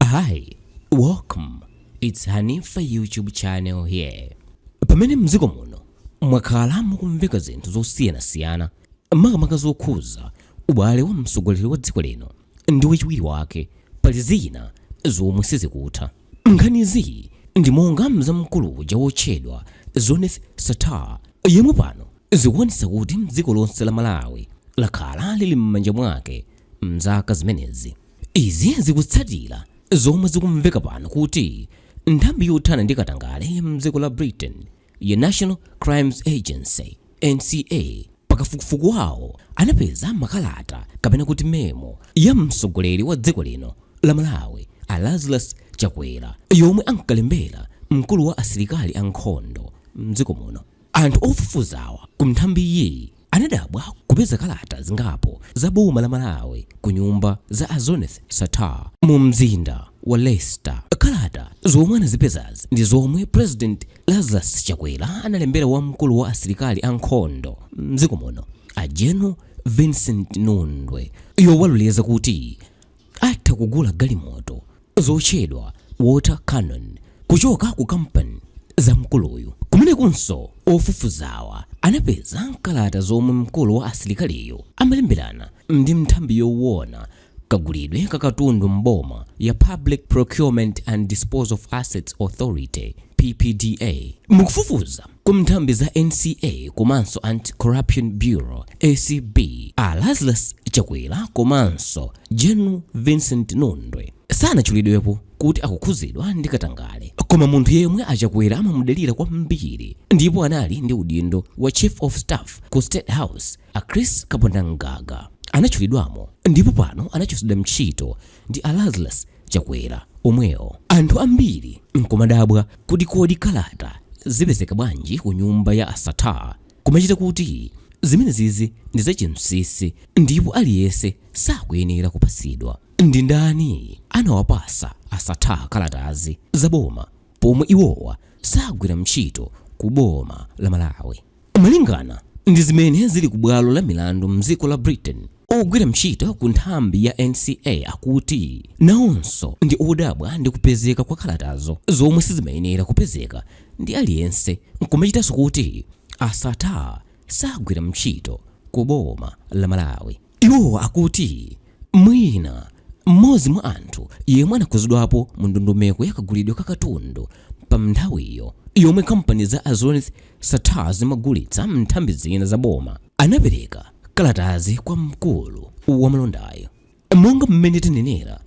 Hi, welcome. It's Hanifa YouTube channel here. Pamene mdziko muno mwakhala mukumveka zinthu zosiyanasiyana makamaka zokhuza ubale wa mtsogoleri wa dziko lino ndi wachiwiri wake pali zina zomwe sizikutha. Nkhanizi ndi monga za mkulu uja wotchedwa Zuneth Sattar yemwe pano zikuonetsa kuti mdziko lonse la Malawi lakhala lili m'manja mwake mzaka zimenezi. Izi zikutsatira zomwe zikumveka pano kuti nthambi yothana ndi katangale ya mdziko la Britain ya National Crimes Agency, NCA, pa kafukufuku wawo anapeza makalata kapena kuti memo ya mtsogoleri wa dziko lino la Malawi a Lazarus Chakwera yomwe ankalembera mkulu wa asilikali a nkhondo mdziko muno. Anthu ofufuzawa ku nthambiyi anadabwa kupeza kalata zingapo za boma la Malawi ku nyumba za a Zuneth Sattar mu mzinda wa Leicester. Kalata zomwe anazipezazi ndi zomwe President Lazarus Chakwera analembera wamkulu wa asilikali ankhondo mdziko muno a General Vincent Nundwe yowaloleza kuti atha kugula galimoto zotchedwa Water Cannon kuchoka ku kampani za mkuluyu. Kumenekunso ofufuzawa anapeza kalata zomwe mkulu wa asilikaliyu amalemberana ndi nthambi yowona kagulidwe ka katundu m'boma ya Public Procurement and Disposal of Assets Authority, PPDA. Mukufufuza Ku nthambi za NCA komanso Anti Corruption Bureau, ACB, a Lazarus Chakwera komanso General Vincent Nundwe sanatchulidwepo kuti akukhudzidwa ndi katangale. Koma munthu yemwe a Chakwera amamudalira kwambiri ndipo anali ndi udindo wa Chief of Staff ku State House, a Chris Kapondamgaga, anatchulidwamo ndipo pano anachotsedwa ntchito ndi a Lazarus Chakwera omwewo. Anthu ambiri nkumadabwa kuti kodi kalata zipezeka bwanji ku nyumba ya a Sattar kumachita kuti zimenezizi ndi za chinsinsi ndipo aliyese sakuyenera kupasidwa. Ndi ndani anawapasa a Sattar kalatazi za boma pomwe iwowa sagwira mtchito ku boma la Malawi? Malingana ndi zimene zili ku bwalo la milandu mdziko la Britain, ogwira ntchito ku nthambi ya NCA akuti nawonso ndi odabwa ndi kupezeka kwa kalatazo zomwe sizimayenera kupezeka ndi aliyense nkumachitanso kuti a Sattar sagwira ntchito ku boma la Malawi. Iwo akuti mwina mmodzi mwa anthu yemwe anakhudzidwapo mu ndondomeko ya kagulidwe ka katundu pa nthawiyo yomwe kampani za a Zuneth Sattar zimagulitsa nthambi zina za boma anapereka kalatazi kwa mkulu wa malondayo. Monga mmene tanenera,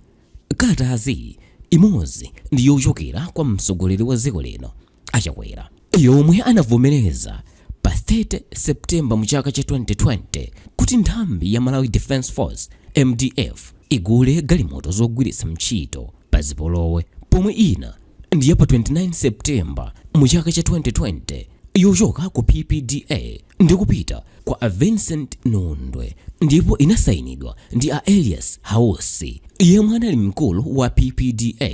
Kalatazi imodzi ndi yochokera kwa mtsogoleri wa dziko lino a Chakwera yomwe anavomereza pa 30 September mu chaka cha 2020 kuti nthambi ya Malawi Defence Force, mdf, igule galimoto zogwiritsa ntchito pa zipolowe pomwe ina ndi ya pa 29 September mu chaka cha 2020 yochoka ku PPDA. Ndikupita kwa a Vincent Nundwe ndipo inasayinidwa ndi a Elias Hausi yemwe anali mkulu wa PPDA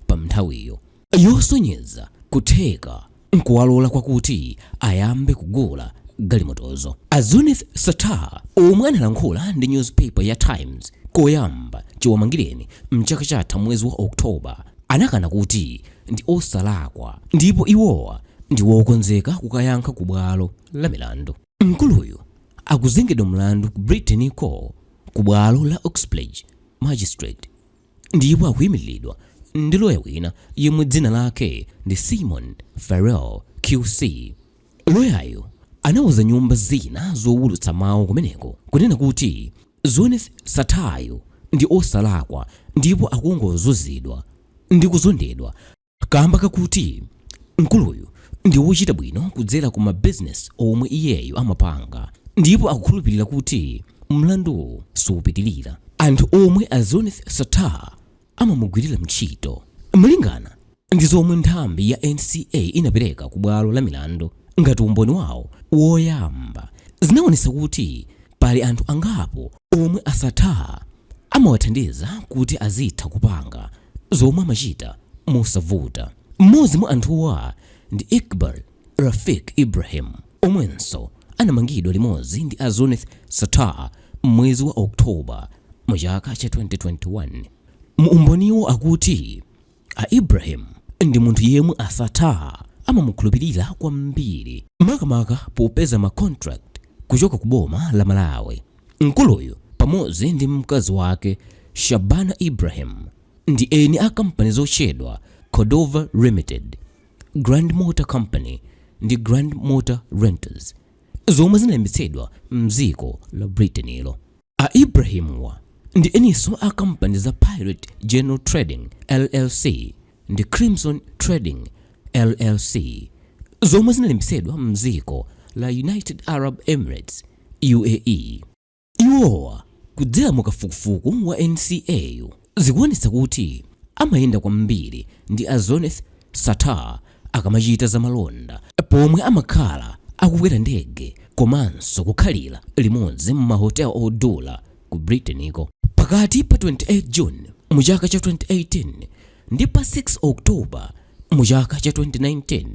pamnthawiyo, yosonyeza kutheka nkuwalola kwakuti ayambe kugula galimotozo. A Zuneth Sattar omwe analankhula ndi newspaper ya Times koyamba chiwamangireni mchaka chatha mwezi wa October, anakana kuti ndi osalakwa ndipo iwowa ndi wokonzeka kukayankha ku bwalo la milandu. Mkuluyu akuzengedwa mlandu ku Britain-ko ku bwalo la Uxbridge Magistrate ndipo akuyimiriridwa ndi loya wina yemwe dzina lake ndi Simon Farrell QC. Loyayo anauza nyumba zina zowulutsa mawu kumeneko kunena kuti Zuneth Sattar-yu ndi osalakwa ndipo akungozunzidwa ndi kuzondedwa kamba kakuti mkuluyu ndi wochita bwino kudzera ku ma business omwe iyeyo amapanga ndipo akukhulupilira kuti mlanduwu supitilira. Anthu omwe a Zuneth Sattar amamugwirira mtchito. Malingana ndi zomwe nthambi ya NCA inapereka ku bwalo la milandu ngati umboni wawo woyamba, zinaonetsa kuti pali anthu angapo omwe a Sattar amawathandiza kuti azitha kupanga zomwe amachita mosavuta. M'modzi mwa anthuwa ndi Iqbal Rafiq Ibrahim, omwenso anamangidwa limodzi ndi a Zuneth Sattar m'mwezi wa October mu chaka cha 2021. Mu umboniwo akuti a Ibrahim ndi munthu yemwe a Sattar amamukhulupilira kwambiri makamaka popeza ma contract kuchoka ku boma la Malawi. Mkuluyu pamodzi ndi mkazi wake Shabana Ibrahim ndi eni a kampani zotchedwa Cordova Limited. Grand Motor Company ndi Grand Motor Renters zomwe zinalembetsedwa mdziko la Britain-lo. A Ibrahim-wa ndi eninso a kampani za Pirate General Trading LLC ndi Crimson Trading LLC zomwe zinalembetsedwa mdziko la United Arab Emirates, UAE. Iwowa kudzera mu kafukufuku wa NCA yu, zikuonetsa kuti amayenda kwambiri ndi a Zuneth Sattar akamachita za malonda pomwe amakhala akukwera ndege komanso kukhalira limodzi mma hotel odula ku Britain ko. Pakati pa 28 June mu chaka cha 2018 ndi pa 6 October mu chaka cha 2019,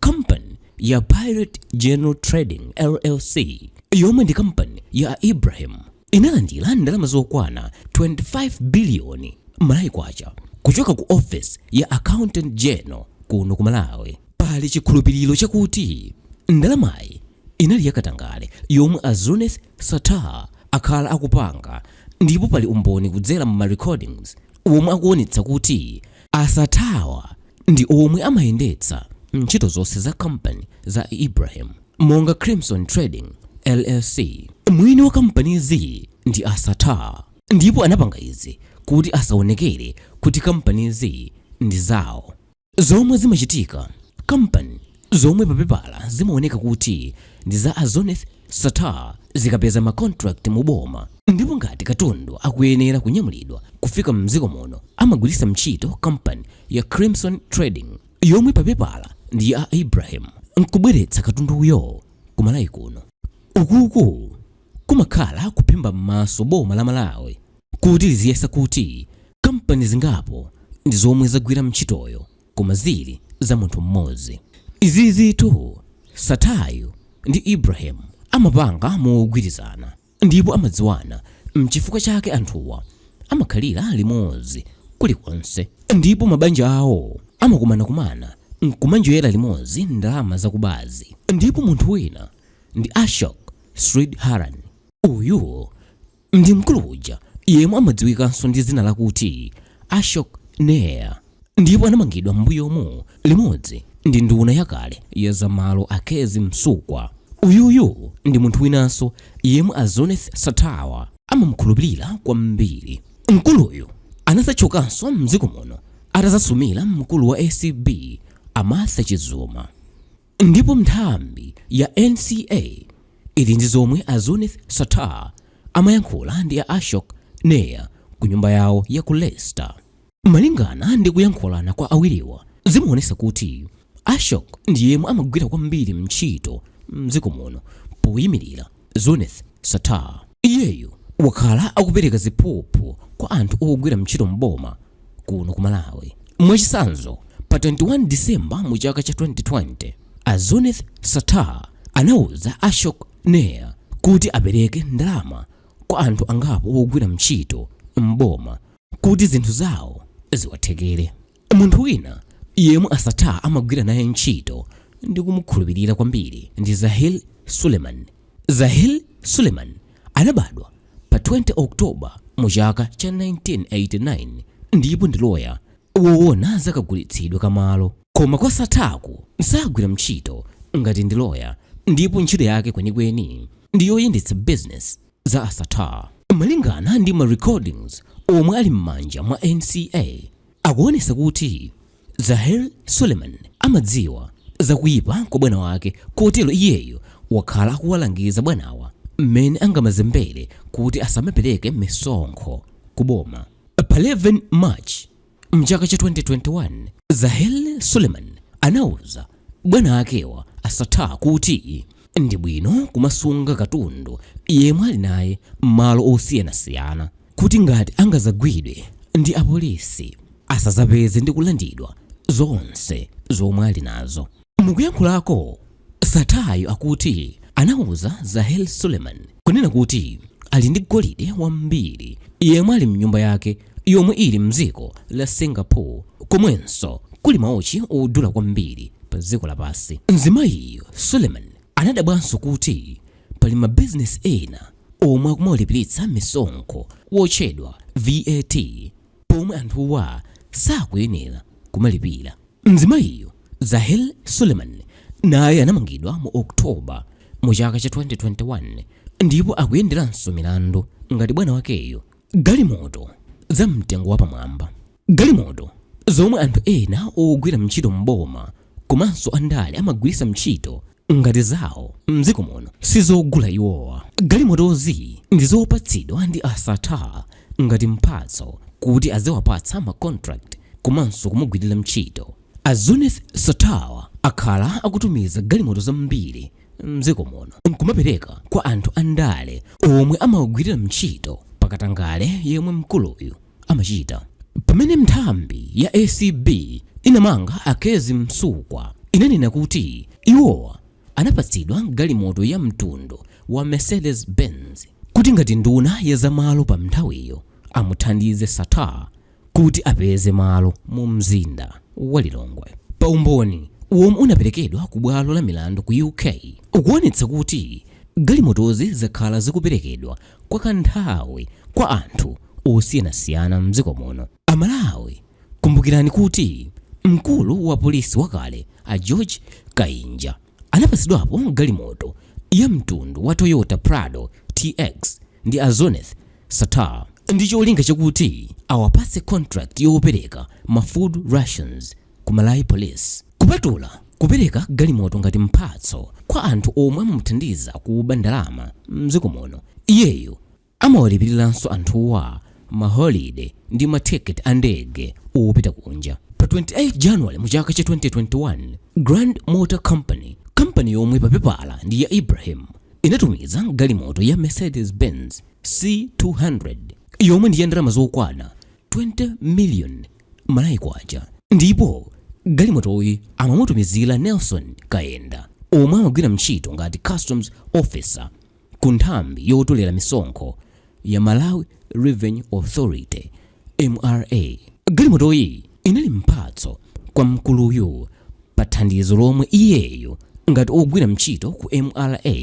Kampani ya Pirate General Trading LLC yomwe ndi kampani ya a Ibrahim inalandira ndalama zokwana 25 biliyoni Malawi kwacha kuchoka ku office ya Accountant General kuno ku Malawi. Pali chikhulupiriro chakuti ndalamayi inali yakatangale yomwe a Zuneth Sattar akhala akupanga ndipo pali umboni kudzera mu ma recordings womwe akuonetsa kuti a Sattar-wa ndi omwe amayendetsa ntchito zonse za kampani za Ibrahim monga Crimson Trading LLC. Mwini wa kampanizi ndi a Sattar ndipo anapanga izi kuti asaonekere kuti kampanizi ndi zawo. Zomwe zimachitika, kampani zomwe papepala zimaoneka kuti ndi za a Zuneth Sattar zikapeza ma contract mu boma ndipo ngati katundu akuyenera kunyamulidwa kufika m'dziko muno amagwiritsa ntchito kampani ya Crimson Trading yomwe pa pepala ndi ya a Ibrahim nkubweretsa katunduyo ku Malawi kuno. Ukuku kumakhala kuphimba m'maso boma la Malawi kuti liziyesa kuti kampani zingapo ndi zomwe zagwira ntchitoyo. koma zili za munthu mmodzi. Izizitu Sattar-yu ndi Ibrahim amapanga mogwirizana ndipo amadziwana mchifukwa chake anthuwa amakhalira limodzi kulikonse ndipo mabanja awo amakumanakumana nkumanjoyera limodzi ndalama zakubazi ndipo munthu wina ndi Ashok Sridharan uyu ndi mkulu uja yemwe amadziwikanso ndi dzina lakuti Ashok Nair ndipo anamangidwa m'mbuyomu limodzi ndi nduna yakale ya zamalo a Kezzie Msukwa. Uyuyu ndi munthu winanso yemwe a Zuneth Sattar-wa amamukhulupirira kwambiri. Mkuluyu anadzatchukanso m'dziko muno atadzasumira mkulu wa acb a Martha Chizuma. Ndipo nthambi ya NCA ili ndi zomwe a Zuneth Sattar amayankhula ndi a Ashok Nair ku nyumba yawo ya ku Leicester. Malingana ndi kuyankhulana kwa awiriwa, zimaonesa kuti Ashok ndi yemwe amagwira kwambiri ntchito mdziko muno poyimirira Zuneth Sattar. Iyeyo wakhala akupereka ziphuphu kwa anthu ogwira mchito m'boma kuno ku Malawi. Mwachisanzo, pa 21 December mu chaka cha 2020, a Zuneth Sattar anauza Ashok Nair kuti apereke ndalama kwa anthu angapo ogwira mchito m'boma kuti zinthu zawo ziwathekere. Munthu wina yemwe a Sattar amagwira naye ntchito ndi kumukhulupirira kwambiri ndi Zahil Suleiman. Zahil Suleiman anabadwa pa 20 October mu chaka cha 1989 ndipo ndi loya woona za kagulitsidwe ka malo. Koma kwa Sattar'ku sagwira ntchito ngati ndi loya ndipo ntchito yake kwenikweni ndi yoyendetsa bizinesi za a Sattar. Malingana ndi ma recordings omwe ali m'manja mwa NCA, Akuonetsa kuti Zahil Suleiman amadziwa za kuipa kwa bwana wake kotero iyeyo wakhala akuwalangiza bwanawa mmene angamazembere kuti asamapereke misonkho ku boma. Pa 11 March mchaka cha 2021, Zahil Suleiman anauza bwana akewa a Sattar kuti ndi bwino kumasunga katundu yemwe ali naye mmalo osiyanasiyana. kuti ngati angazagwidwe ndi apolisi asazapeze ndi kulandidwa zonse zomwe ali nazo. Mukuyankhulako, Sattar'yo akuti anauza Zahil Suleiman kunena kuti ali ndi golide wambiri yemwe ali mnyumba yake yomwe ili mdziko la Singapore komwenso kuli maochi odula kwambiri pa dziko lapansi. Mzimayiyo Suleiman anadabwanso kuti Pali mabizinesi ena omwe akumawalipiritsa misonkho wotchedwa VAT pomwe anthuwa sakuyenera kumalipira. Mzimayiyo, Zahil Suleiman, naye anamangidwa mu October mu chaka cha 2021 ndipo akuyenderanso milandu ngati bwana wakeyo. Galimoto za mtengo wapamwamba. Galimoto zomwe anthu ena ogwira ntchito m'boma komanso andale amagwiritsa ntchito ngati zawo m'dziko muno si zogula iwowa. Galimotozi ndi zopatsidwa ndi a Sattar ngati mphatso kuti aziwapatsa ma contract komanso kumugwirira ntchito. A Zuneth Sattar akhala akutumiza galimoto zambiri m'dziko muno n'kumapereka kwa anthu andale omwe amawagwirira ntchito pa katangale yemwe mkuluyu amachita. Pamene nthambi ya ACB inamanga a Kezzie Msukwa inanena kuti iwowa anapatsidwa galimoto ya mtundu wa Mercedes Benz kuti ngati nduna ya za malo pa nthawiyo amuthandize Sattar kuti apeze malo mu mzinda wa Lilongwe. Pa umboni womwe unaperekedwa ku bwalo la milandu ku UK ukuonetsa kuti galimotozi zakhala zikuperekedwa kwa kanthawi kwa anthu osiyanasiyana m'dziko muno. Amalawi, kumbukirani kuti mkulu wa polisi wakale a George Kainja anapatsidwapo galimoto ya mtundu wa Toyota Prado TX ndi a Zuneth Sattar ndi cholinga chakuti awapatse contract yopereka ma food rations ku Malawi Police. Kupatula kupereka galimoto ngati mphatso kwa anthu omwe amamuthandiza kuba ndalama mdziko muno, iyeyo amawalipiriranso anthuwa ma holiday ndi ma ticket a ndege opita kunja. Pa 28 January mu chaka cha 2021, Grand Motor Company, kampani yomwe pa pepala ndi ya Ibrahim, inatumiza galimoto ya Mercedes Benz C200 yomwe ndi ya ndalama zokwana 20 million Malawi kwacha ndipo galimotoyi amamutumizira Nelson Kayenda omwe amagwira ntchito ngati Customs Officer ku nthambi yotolera misonkho ya Malawi Revenue Authority, MRA. Galimotoyi inali mphatso kwa mkuluyu pa thandizo lomwe iyeyo ngati ogwira ntchito ku MRA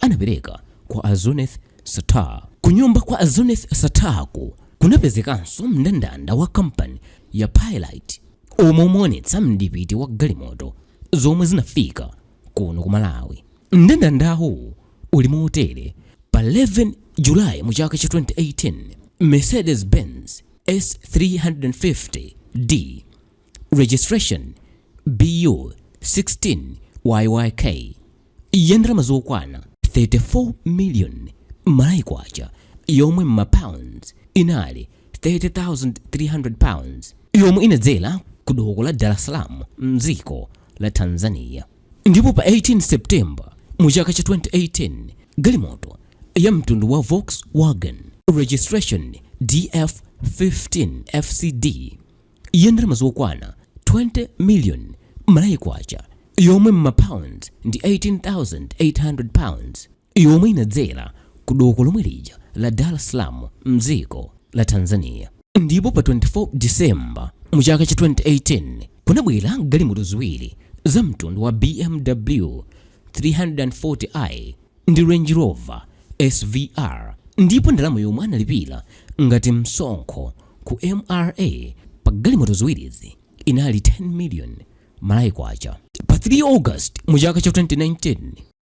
anapereka kwa a Zuneth Sattar. Kunyumba kwa a Zuneth Sattarku kunapezekanso mndandanda wa kampani ya Pilite omwe umaonetsa mdipiti wa galimoto zomwe zinafika kuno ku Malawi. Mndandandawu uli motere, pa 11 Julayi mu chaka cha 2018, Mercedes-Benz S350D registration BU 16YYK ya ndalama zokwana 34 million Malawi kwacha yomwe m'ma pounds inali 30,300 pounds yomwe inadzera ku doko la Dar es Salaam mdziko la Tanzania. Ndipo pa 18 September mu chaka cha 2018 galimoto ya mtundu wa Volkswagen registration DF 15 FCD ya ndalama zokwana 20 million Malawi Kwacha yomwe m'ma pounds ndi 18,800 pounds yomwe inadzera ku doko lomwe lija la Dar es Salaam mdziko la Tanzania. Ndipo pa 24 December mu chaka cha 2018 kunabwera galimoto ziwiri za mtundu wa BMW 340i ndi Range Rover, SVR, ndipo ndalama yomwe analipira ngati msonkho ku mra pa galimoto ziwirizi inali 10 million Malawi kwacha. Pa 3 August mu chaka cha 2019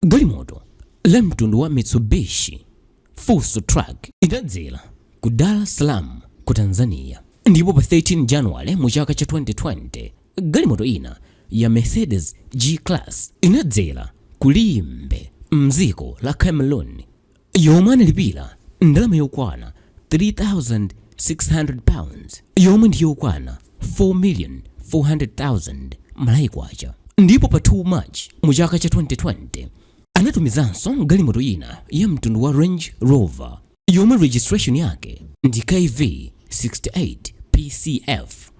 galimoto la mtundu wa Mitsubishi Fuso Truck inadzera ku Dar es Salaam ku Tanzania, ndipo pa 13 January mu chaka cha 2020 Galimoto ina ya Mercedes G-Class inadzera ku Limbe m'dziko la Cameroon yomwe analipira ndalama yokwana £3,600 yomwe ndi yokwana 4,400,000 Malawi Kwacha ndipo pa 2 March mu chaka cha 2020 anatumizanso galimoto ina ya mtundu wa Range Rover yomwe registration yake ndi KV 68 PCF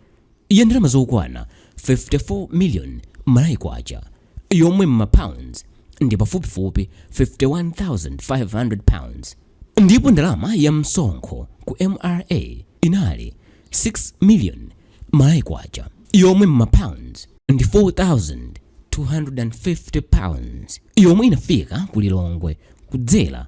ya ndalama zokwana 54 million Malawi kwacha yomwe m'ma pounds ndi pafupifupi 51,500 pounds ndipo ndalama ya msonkho ku mra inali 6 million Malawi kwacha yomwe m'ma pounds ndi 4,250 pounds yomwe inafika ku lilongwe kudzera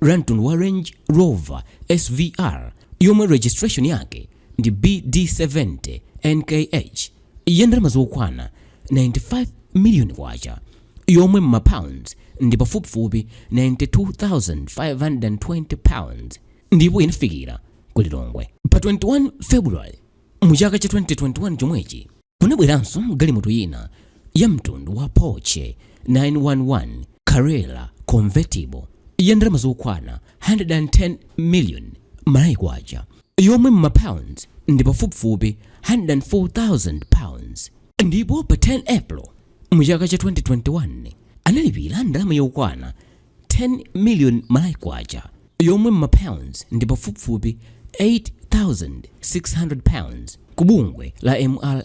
La mtundu wa Range Rover SVR yomwe registration yake ndi BD70 NKH ya ndalama zokwana 95 million kwacha yomwe m'ma pounds ndi pafupifupi 92,520 pounds ndipo inafikira ku Lilongwe pa 21 February mu chaka cha 2021 chomwechi. Kunabweranso galimoto ina ya mtundu wa Porsche 911 Carrera convertible ya ndalama zokwana 110 million Malawi kwacha yomwe m'ma pounds ndi pafupifupi 104,000 pounds ndipo pa 10 April mu chaka cha 2021 analipira ndalama yokwana 10 million Malawi Kwacha yomwe mma pounds ndi pafupifupi 8,600 pounds ku bungwe la mra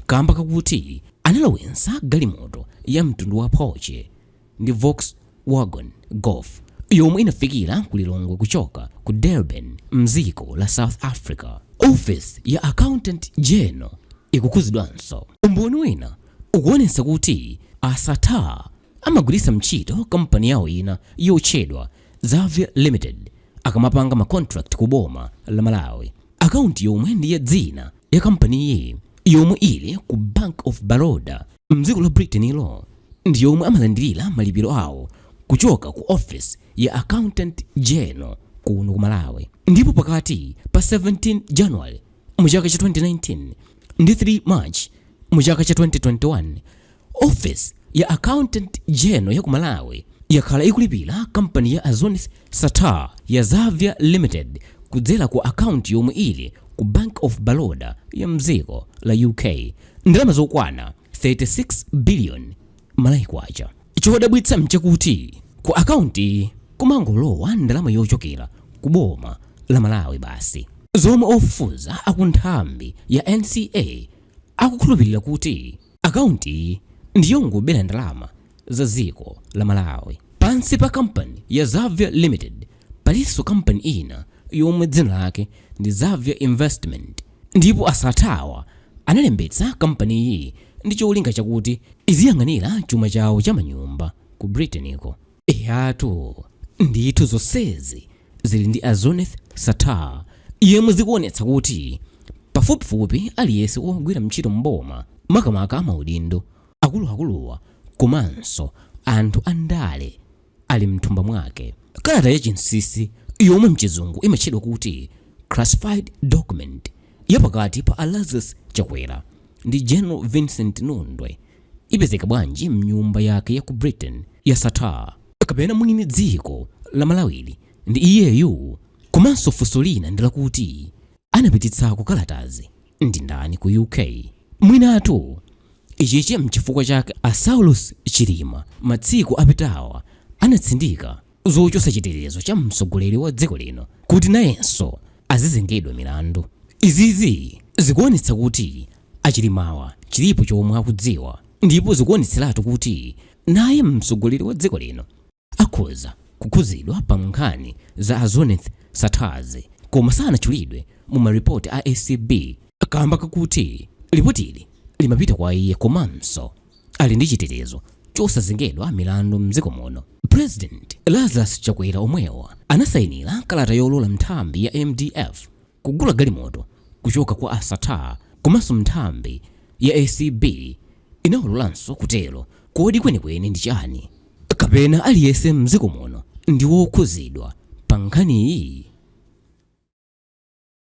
kamba kakuti analowetsa galimoto ya mtundu wa Porsche ndi Volkswagen Golf yomwe inafikira ku Lilongwe kuchoka ku Durban mdziko la South Africa. Office ya Accountant General ikukhuzidwanso. Umboni wina ukuonetsa kuti a Sattar Amagwiritsa ntchito kampani yawo ina yotchedwa Xavier Limited akamapanga ma contract ku boma la Malawi. Akaunti yomwe ndi ya dzina ya kampaniyi yomwe ili ku Bank of Baroda mdziko la Britain ilo ndi yomwe amalandirira malipiro awo kuchoka ku office ya Accountant General kuno ku Malawi. Ndipo pakati pa 17 January mu chaka cha 2019 ndi 3 March mu chaka cha 2021, Office ya Accountant General ya ku Malawi yakhala ikulipira kampani ya a Zuneth Sattar ya Xaviar Limited kudzera ku akaunti yomwe ili ku Bank of Baroda ya mdziko la UK ndalama zokwana 36 billion Malawi kwacha. Chodabwitsa mchakuti ku akaunti kumangolowa ndalama yochokera ku boma la Malawi basi, zomwe ofufuza akunthambi ya NCA akukhulupirira kuti Account iyi ndiyongobera ndalama za dziko la Malawi. Pansi pa company ya Xaviar Limited palinso company ina yomwe dzina lake ndi Xaviar Investment ndipo a Sattar-wa analembetsa company iyi ndi cholinga chakuti iziyang'anira chuma chawo cha manyumba ku Britain ko. eyatu ndithu zonsezi zili ndi a zuneth sattar yemwe zikuonetsa kuti pafupifupi aliyense wogwira ntchito mboma makamaka amaudindo akuluakuluwa komanso anthu andale ali mthumba mwake kalata ya chinsinsi yomwe mchizungu imatchedwa kuti classified document yapakati pa a lazarus chakwera ndi general vincent nundwe ipezeka bwanji mnyumba yake ya ku Britain ya Sattar? Kapena mwini dziko la Malawili ndi iyeyu? Komanso funso lina ndi lakuti anapititsako kalatazi ndi ndani ku UK? Mwinatu ichichi mchifukwa chake a Saulos Chilima matsiku apitawa anatsindika zochotsa chitetezo cha mtsogoleri wa dziko lino kuti nayenso azizengedwa milandu izizi zikuonetsa kuti a chilimawa chilipo chomwe akudziwa ndipo zikuonetseratu kuti naye mtsogoleri wa dziko lino akhoza kukhuzidwa pa nkhani za a zuneth sattar-zi koma sanatchulidwe mu maripoti a acb kamba kakuti lipotili limapita kwa iye komanso ali ndi chitetezo chosazengedwa milandu mdziko muno president lazarus chakwera omwewo anasayinira kalata yolola nthambi ya mdf kugula galimoto kuchoka kwa a sattar komanso nthambi ya acb inawololanso kutero kodi kwenikweni ndi chani kapena aliyense mdziko muno ndi wokhuzidwa pa nkhaniyi